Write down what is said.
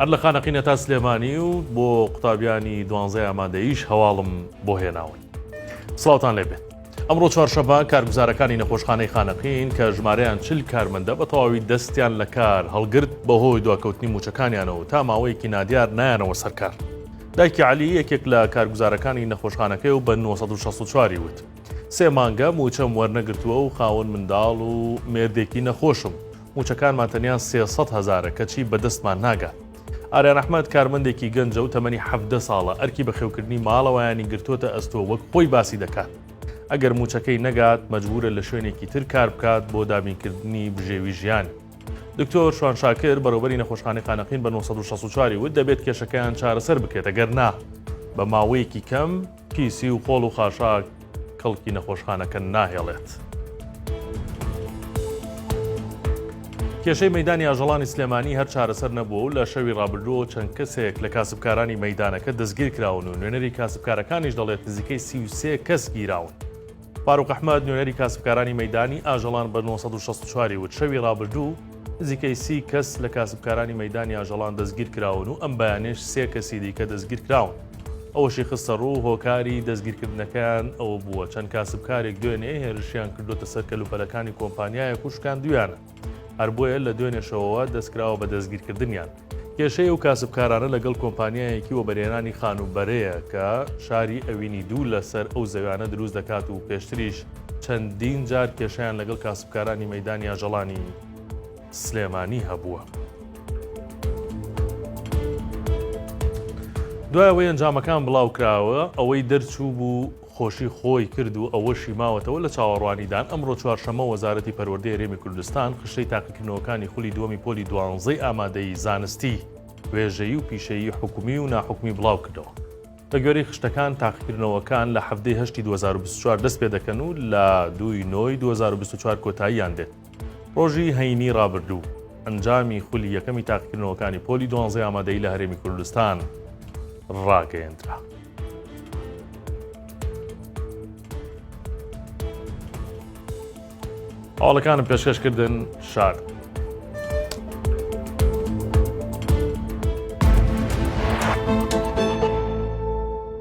هەر لە خانەقینە تا سلێمانی و بۆ قوتابیانی دوانزای ئامادەیش هەواڵم بۆ هێناون سڵاوان لێ بێت ئەمڕۆ چوارشەبا کارگوزارەکانی نەخۆشخانەی خانەقین کە ژمارەیان چل کارمەندە بە تەواوی دەستیان لە کار هەڵگرت بەهۆی دواکەوتنی موچەکانیانەوە تا ماوەیەکی نادیار نایانەوە سەرکار دایکی علی یەکێک لە کارگوزارەکانی نەخۆشخانەکەی و بە 1964 وت سێ مانگە مووچەم وەرنەگرتووە و خاوەن منداڵ و مێردێکی نەخۆشم. مووچەکانمان تەنیا سێ سەد هەزارە کەچی بەدەستمان ناگات. ئاریان ئەحمەد کارمەندێکی گەنجە و تەمەنی حەڤدە ساڵە، ئەرکی بەخێوکردنی ماڵەوەیانی گرتۆتە ئەستۆ وەک خۆی باسی دەکات، ئەگەر مووچەکەی نەگات مەجبوورە لە شوێنێکی تر کار بکات بۆ دابینکردنی بژێوی ژیانی. دکتۆر شوان شاکر، بەڕێوبەری نەخۆشخانەی خانەقین بە نۆ سەد و شەست و چوار ی وت دەبێت کێشەکەیان چارەسەر بکرێت ئەگەر نا بە ماوەیەکی کەم، پیسی و خۆڵ و خاشاک کەڵکی نەخۆشخانەکە ناهێڵێت. کێشەی مەدانی ئاژەڵانی سلێمانی هەر چارەسەر نەبووە و لە شەوی ڕابردووەوە چەند کەسێک لە کاسبکارانی مەدانەکە دەستگیر کراون و نوێنەری کاسبکارەکانیش دەڵێت نزیکەی سیوسێ کەس گیراون. فاروق ئەحمد نوێنەری کاسبکارانی مەدانی ئاژەڵان بە 1964 وت شەوی ڕابردوو نزیکەی سی کەس لە کاسبکارانی مەدانی ئاژەڵان دەستگیر کراون و ئەم بەیانێش سێ کەسی دیکە دەستگیر کراون. ئەوەشی خستەڕوو، هۆکاری دەستگیرکردنەکەیان ئەوە بووە، چەند کاسبکارێک دوێنێ هێرشیان کردووەتە سەر کەلوپەلەکانی کۆمپانیایەک و شکاندوویانن، هەر بۆیە لە دوێنێ شەوەوە دەستکراوە بە دەستگیرکردنیان. کێشەی ئەو کاسبکارانە لەگەڵ کۆمپانیایەکی وەبەرهێنانی خانووبەرەیە کە شاری ئەوینی دوو لەسەر ئەو زەویانە دروست دەکات و پێشتریش چەندین جار کێشەیان لەگەڵ کاسبکارانی مەیدانی ئاژەڵانی سلێمانی هەبووە. دوای ئەوەی ئەنجامەکان بڵاوکراوە، ئەوەی دەرچوو بوو خۆشی خۆی کرد و ئەوەشی ماوەتەوە لە چاوەڕوانیدان، ئەمڕۆ چوارشەممە وەزارەتی پەروەردەی هەرێمی کوردستان خشتەی تاقیکردنەوەکانی خولی دووەمی پۆلی دوانزەی ئامادەیی زانستی وێژەیی و پیشەیی حکومی و ناحکومی بڵاوکردەوە. بەگوێرەی خشتەکان تاقیکردنەوەکان لە حەڤدەی هەشتی دوو هەزار و بیست و چوار دەستپێدەکەن و لە دووی نۆی دوو هەزار و بیست و چوار کۆتاییان دێت. ڕۆژی هەینی ڕابردوو ئەنجامی خولی یەکەمی تاقیکردنەوەکانی پۆلی دوانزەی ئامادەی لە هەرێمی کوردستان ڕاگەیەندرا. هەواڵەکانم پێشکەشکردن شار.